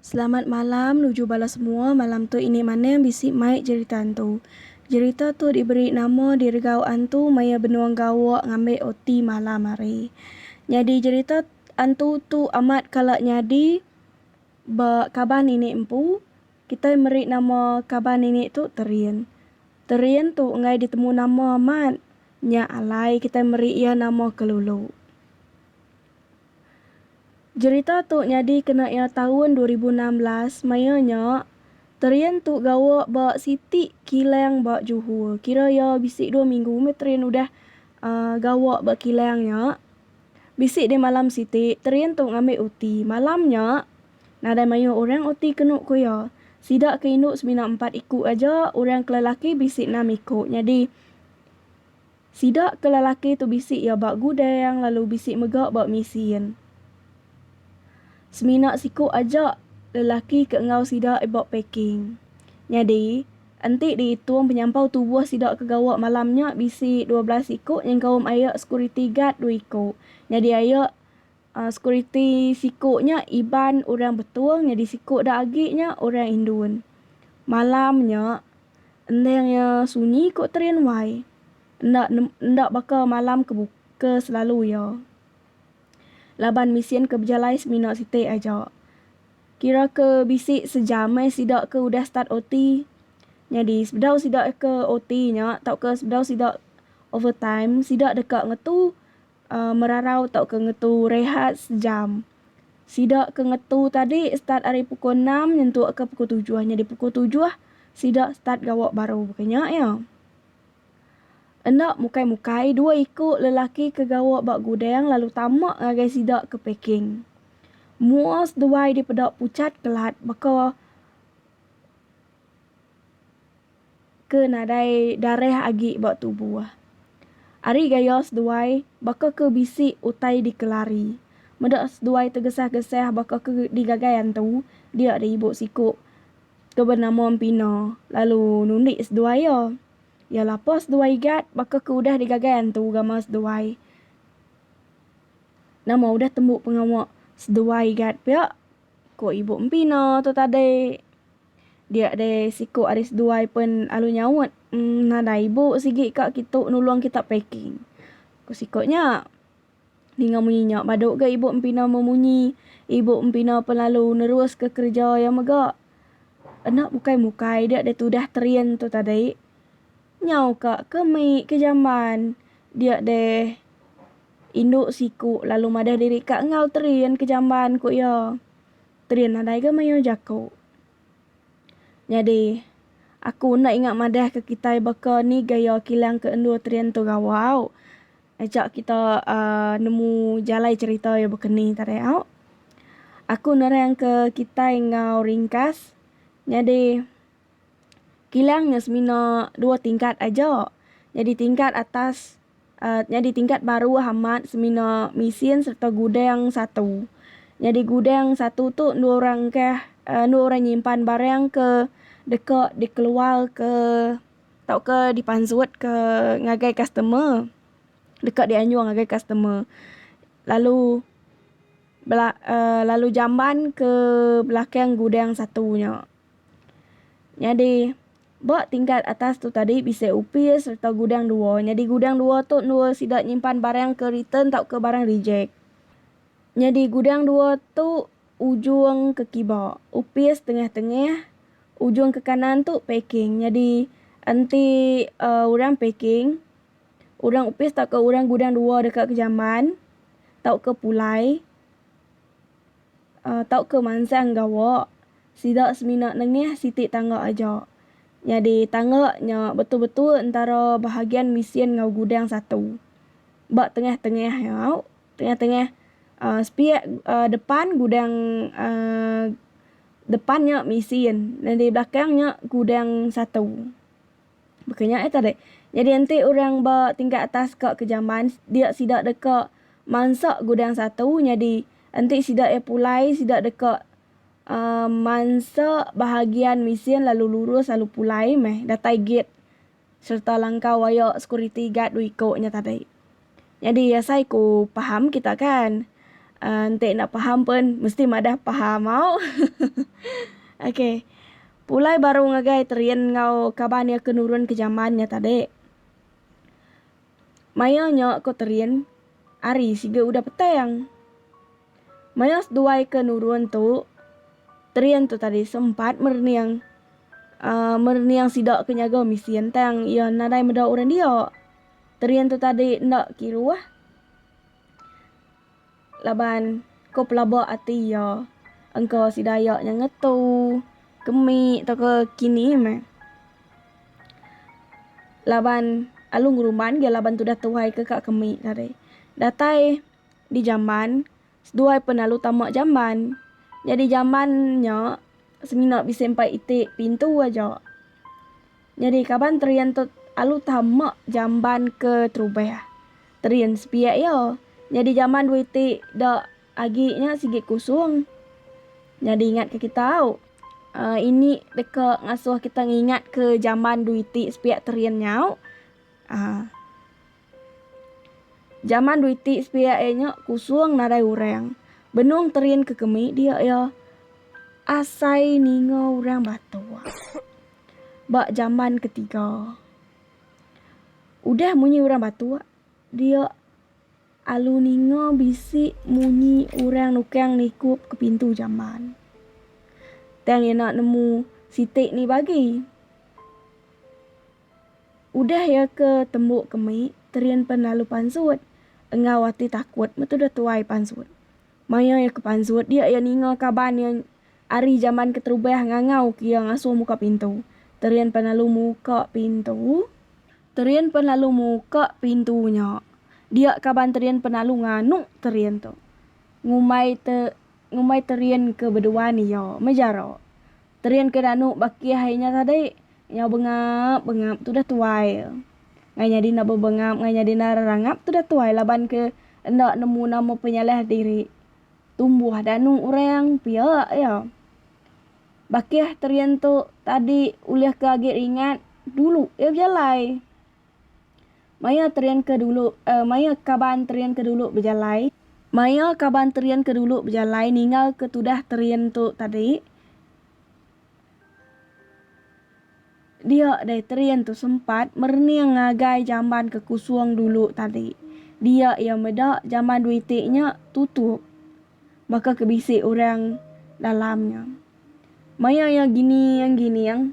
Selamat malam nuju bala semua malam tu ini maneng bisi mai jerita antu. Jerita tu diberi nama diregau antu maya benung gawa ngambi oti malam hari. Nyadi jerita antu tu amat kala nyadi ba kaban ini empu. Kitai meri nama kaban ini tu Terin. Terin tu enggai ditemu nama amat, nya alai kitai meri iya nama Kelulu. Jerita tu nyadi kena iya taun dua ribu enam belas maya nya Terin tu gawa ba siti kilang ba Johor. Kira iya bisi dua minggu meh Terin udah gawa ba kilang nya. Bisi deh malam siti, Terin tu ngambi uti. Malam nya. Nadai mayuh orang oti kenu ku iya. Sida ke indu semina empat iku aja, orang ke lelaki bisi enam iku. Nyadi, sida ke lelaki tu bisi iya ba gudang lalu bisi mega ba misin. Semina siku aja lelaki ke enggau sida ba packing. Nyadi, enti diitung penyampau tubuh sida ke gawa malam nya bisi dua belas iku nyengkaum aye sekuriti gad dua iku. Nyadi aye Sekuriti siku nya Iban orang Betong nyadi siku da agi nya orang Indun. Malam nya endang iya sunyi ku Terin Wai. Enda enda baka malam ke ke selalu iya. Laban mesin ke bejalai semina siti aja. Kira ke bisi sejam meh sida ke udah start OT. Nyadi sebedau sida ke OT nya tauka sebedau sida overtime sida deka ngetu merarau tauka ngetu rehat sejam. Sida ke ngetu tadi start ari pukul enam nyentukka pukul tujuh. Nyadi pukul tujuh sida start gawa baru baka nya iya. Enda mukai-mukai dua iku lelaki ke gawa ba gudang lalu tama ngagai sida ke packing. Mua seduai dipeda puchat kelat baka. ke nadai darah agi ba tubuh. Ari gaya seduai baka ke bisi utai dikelari. Meda seduai tegesah-gesah baka ke digagai antu dia di ibu siku ke benama Empina lalu nundi seduai iya. Iya lapa seduai Igat baka ke udah digagai antu gamal seduai. Nama udah tembu pengawa seduai Igat pia? ku ibu Empina tu tadi. Dia deh siku ari seduai pen alu nyaut, Emm nadai ibu sigi ka kitu nulong kita packing. Ku siku nya. Ninga munyi nya badu ga ibu Empina memunyi. Ibu Empina pen lalu neruska kereja iya mega. Enda bukai mukai dia deh tudah train tu tadi. Nyau ka ke mei ke jamban. Dia deh indu siku lalu madah diri ka enggau train ke jamban ku iya. Trin nadai ga mayuh jaku. Nyadi, aku enda ingat madah ke kitai baka ni gaya kilang ke endur Trin tu gawa au. Aja kita uhh nemu jalai cerita iya baka ni tadai au. Aku nerang ke kitai enggau ringkas. Nyadi. kilang nya semina dua tingkat aja nyadi tingkat atas nyadi tingkat baruh amat semina mesin sereta gudang satu. Nyadi gudang satu tu endu orang ke endu orang nyimpan barang ke deka dikeluar ke tauka dipansut ke ngagai customer deka dianjung ngagai customer. Lalu bela jamban ke belakang gudang satu nya. Nyadi, ba tingkat atas tu tadi bisi opis sereta gudang dua. Nyadi gudang dua tu endur sida nyimpan barang ke return tauka barang rejek. Nyadi gudang dua tu ujung ke kiba, opis tengah-tengah, ujung ke kanan tu packing. Nyadi enti uhh orang packing, orang opis tauka orang gudang dua deka ke jamban tauka pulai. tauka mansang gawa, sida semina nengah siti tangga aja. Nyadi tangga nya betul-betul entara bahagian mesin enggau gudang satu. Ba tengah-tengah nya, tengah-tengah sepiak depan gudang depan nya mesin, nyadi belakang nya gudang satu. Baka nya ai tadi. Nyadi enti orang ba tingkat atas ka ke jamban dia sida deka mansa gudang satu nyadi enti sida iya pulai sida deka uhh mansa bahagian mesin lalu lurus lalu pulai meh datai gate serta langkau aya security guard dua iko nya tadi. Nyadi asai ku paham kita kan. Uhh enti enda paham pun mesti madah paham au. Ok. Pulai baru ngagai Terin enggau kaban iya ke nurun ke jaman nya tadi. Maioh nya ko Terin ari siga udah petang. Maioh seduai ke nurun tu Terin tu tadi sempat merening uhh merening sida ke nyaga mesin tang iya nadai meda orang dia. Terin tu tadi enda kiruh laban ko pelaba ati iya engka si Dayak nya ngetu kemi tauka kini meh. Laban alu ngeruman ga laban tudah tuai ke ka kemi tadi. Datai di jamban. Seduai pen lalu tama jamban. Nyadi jamban nya semina bisi empai iti pintu aja. Nyadi kaban Terian tu alu tama jamban ke terubah. Terian sepiak iya. Nyadi jamban dua iti da agi nya sigi kusung. Nyadi ingat ke kita au. Aaa ini deka ngasuh kita ngingat ke jamban dua iti sepiak Terian nyau. Aaa. Jaman dui ti sepiak iya nya kusung nadai urang. Benung terin ke kemi dia iya asai ninga urang batok. Ba jaman ke tiga. Udah munyi urang batok dia alu ninga bisi munyi urang nukang nikup ke pintu jamban. Tang iya enda nemu siti ni bagi. Udah iya ke tembu kemi, Terin pen lalu pansut enggau ati takut metudah tuai pansut. Maya iya ke pansut dia iya ninga kaban iya ari jamban keterubah ngangau ke iya ngasuh muka pintu. Terin pen lalu muka pintu. Terin pen lalu muka pintu nya. Dia kaban Terin pen lalu nganu Terin tu. Ngumbai te ngumbai Terin ke beduan iya. Mejara. Terin ke danu bakih ai nya tadi. Nyau bengap bengap tudah tuai. Ngai nyadi enda bebengap ngai nyadi enda rerangap tudah tuai laban ke enda nemu nama penyalah diri. Tumbuh danu orang pia iya. Bakih Terin tu tadi ulih ke agi ringat dulu iya bejalai. Maya terin ke dulu eh maya kaban terin ke dulu bejalai. Maya kaban terin ke dulu bejalai ninggal ke tudah terin tu tadi. Dia deh terin tu sempat merening ngagai jamban ke kusung dulu tadi. Dia iya meda jamban dua iti nya tutup. Baka ke bisi orang dalam nya. Maya iya giniang giniang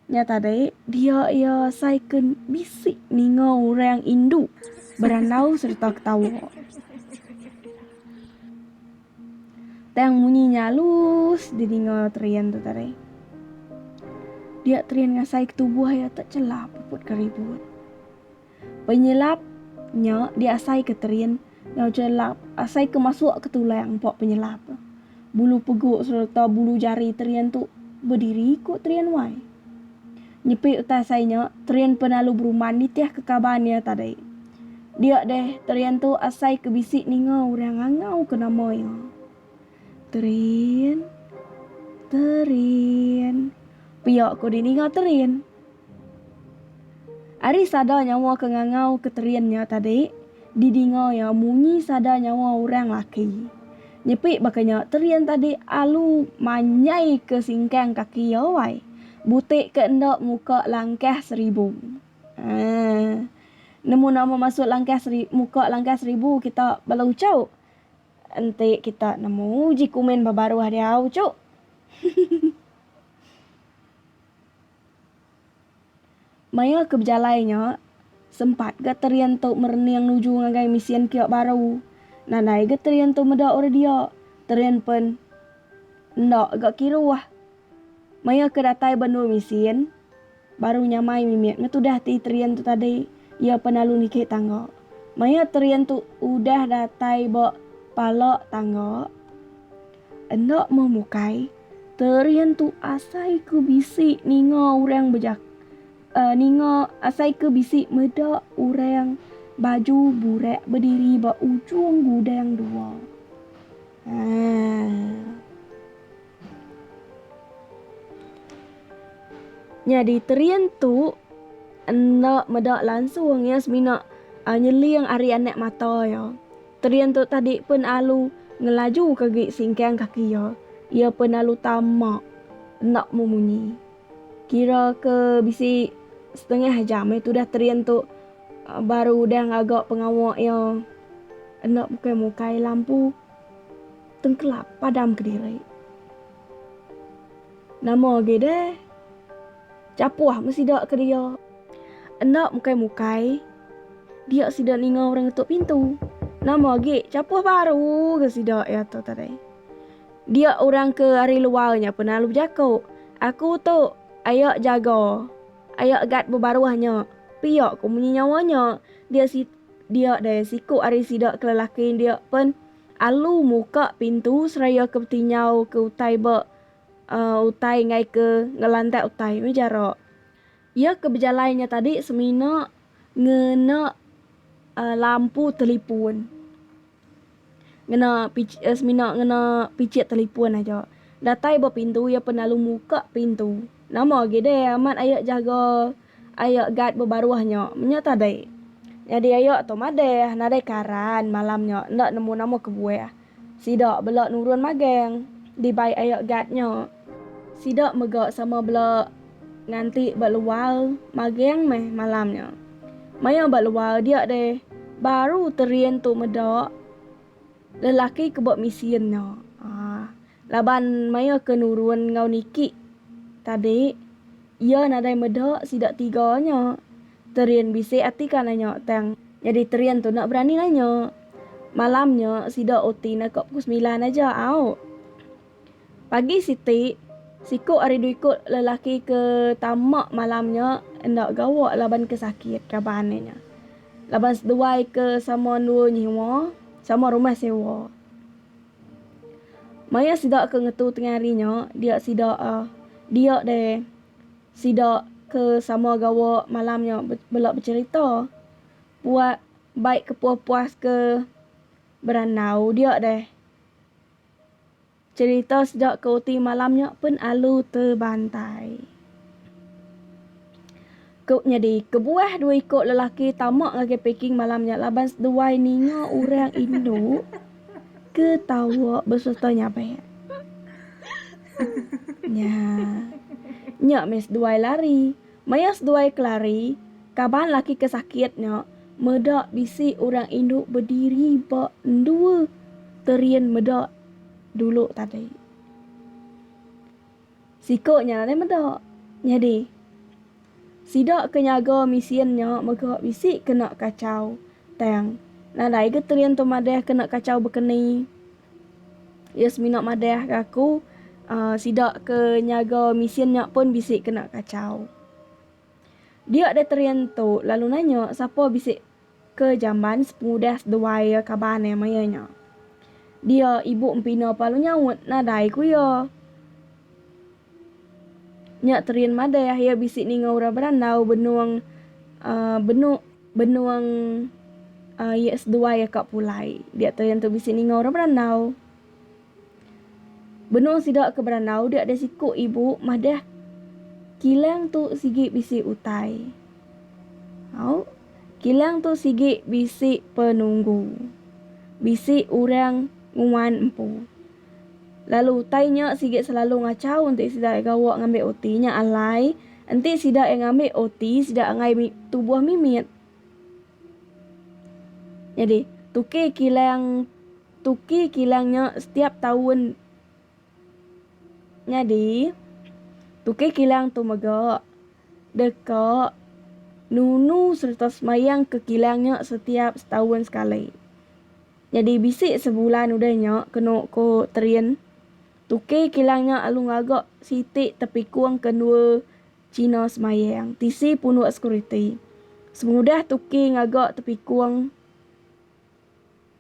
nya tadi, dia iya asai ke bisi ninga orang indu berandau sereta ketawa. Tang munyi nya alus di ninga Trian tu tadi. Dia Trian ngasai ke tubuh iya tak celap puput ke ribut. Penyelap nya diasaika terin enggau chelap asaika masuk ke tulang empa penyelap. Bulu pegu sereta bulu jari terin tu bediri ku terin wai. Nyepi utai asai nya, terin penalu berumban nitih ke kaban iya tadi. Dia deh terin tu asai ke bisi ninga orang ngangau ke nama iya. Terin, terin. Pia ko di ninga terin. Ari sada nyawa ke ngangau ke terin nya tadi di dinga iya munyi sada nyawa orang laki. Nyepi baka nya terin tadi alu manjai ke singkang kaki iya wai. Buti ke enda muka langkah seribu. Aaa. Nemu nama masuk langkah seri muka langkah seribu kita bala uchu. Enti kita nemu uji kumin ba baruh diau cu. Maya ke bejalai nya, sempat ga Terian tu merening nuju ngagai misyen kiok baru. Nadai ga Terian tu meda orang dia. Terian pen enda ga kiruh. Maya ke datai ba endur misyen. Baru nyamai mimit ngetudah ti Terian tu tadi iya penalu niki tangga. Maya Terian tu udah datai ba pala tangga enda meh mukai, Terian tu asai ke bisi ninga orang bejak uh ninga asai ke bisi meda orang baju burak bediri ba ujung gudang dua. Uh. Nyadi Terin tu enda meda langsung iya semina nyeling ari anak mata iya. Terin tu tadi pun alu ngelajuka agi singkang kaki iya. Iya pun alu tama enda mu munyi. Kira ke bisi setengah jam meh tudah terin tu baru udah ngaga pengawa iya enda mukai-mukai lampu. Tengkelap padam kediri. Nama agi deh. Chapuh meh sida ke dia. Enda mukai-mukai. Dia sida ninga orang ngetuk pintu. Nama agi chapuh baru ke sida iya tu tadi. Dia orang ke ari luar nya pun lalu bejaku, Aku tu aya jaga, aya guard bebaruh nya. Pia ku munyi nyawa nya. Dia si. dia deh siku ari sida ke lelaki dia pen alu muka pintu seraya ke beti nyau ke utai ba um utai ngai ke ngelandak utai meh ja ro. Ia ke bejalai nya tadi semina ngena um lampu telipun. Ngena pich eh semina ngena pichit telipun aja. Datai ba pintu iya pen lalu muka pintu. Nama agi deh amat aye jaga aye guard bebaruh nya. Menya tadi. Nyadi aye tu madeh nadai karan malam nya enda nemu nama kebuah. Sida bela nurun magang dibai aye guard nya. Sida mega sama bela Nganti ba luar maging meh malam nya. Maya ba luar dia deh baru Terin tu meda lelaki ke ba misin nya. Aaa. Laban maya ke nurun enggau niki tadi iya nadai meda sida tiga nya. Terin bisi ati ka nanya tang nyadi Terin tu enda berani nanya. Malam nya sida oti naka pukul semilan aja au. Pagi siti, siku ari dua iku lelaki ke tama malam nya enda gawa laban ke sakit raban inya. Laban seduai ke sama endur nyiwa, sama rumah sewa. Maya sida ke ngetu tengah hari nya, dia sida dia deh sida ke sama gawa malam nya bela becherita. Puak bai kepuas-puas ke berandau dia deh. Cerita sejok ke uti malam nya pen alu tebantai. Ku nyadi, kebuah dua iko lelaki tama ngagai paking malam nya laban seduai ninga orang indu ke tawa besereta nyabek. Nya. Nya meh seduai lari. Maya seduai kelari, kaban laki ke sakit nya meda bisi orang indu bediri ba endur terin meda dulu tadi. Siko nya alai meda. Nyadi, sida ke nyaga misin nya mega bisi kena kachau tang nadai ga terin tu madah kena kachau bekeni. Iya semina madah ke aku sida ke nyaga misyen nya pun bisi kena kachau. Dia deh Terian tu lalu nanya sapa bisi ke jamban sepengudah seduai iya kaban iya maya nya. Dia ibu empina pelalu nyaut nadai ku iya. Nya Terin madah iya iya bisi ninga orang berandau benung benung benung iya seduai iya ka pulai. Dia Terin tu bisi ninga orang berandau. Benung sida ke berandau dia deh siku ibu madah kilang tu sigi bisi utai. Au kilang tu sigi bisi penunggu. Bisi orang nguan empu. Lalu utai nya sigi selalu ngachau enti sida iya gawa ngambi uti nya alai enti sida iya ngambi uti sida enggai tubuh mimit. Nyadi, tuki kilang tuki kilang nya setiap taun nyadi tuki kilang tu mega deka nunu sereta semayang ke kilang nya setiap setaun sekali. Nyadi bisi sebulan udah nya kenu ko Terien, tuki kilang nya alu ngaga siti tepikung ke endua Cina semayang tisi punuk sekuriti. Semudah tuki ngaga tepikung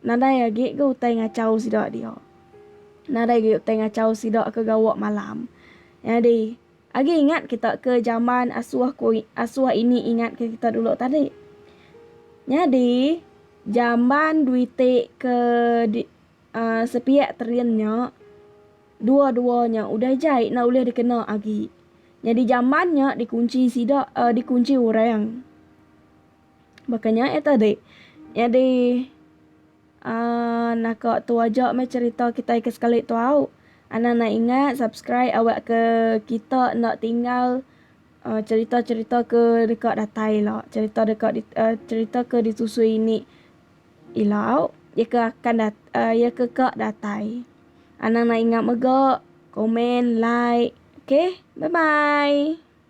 nadai agi ga utai ngachau sida dia. Nadai agi utai ngachau sida ke gawa malam. Nyadi Agi ingat kita ke jaman asuh ko asuh ini ingat ke kita dulu tadi. Nyadi jaman duite ke di uh, sepiak terin nya dua-dua nya udah jai enda ulih dikena agi. Nyadi jaman nya dikunci sida uh, dikunci orang. Baka nya eh tadi. Nyadi Aaa naka tu aja meh cerita kitai ke sekali tu au. Anang nang ingat subscribe awak ke kita enda tinggal cerita cerita ke deka datai ila cerita deka cerita ke disusui ini ila au iya ke akan iya ke ka datai. Anang nang ingat mega komen like okay bye bye.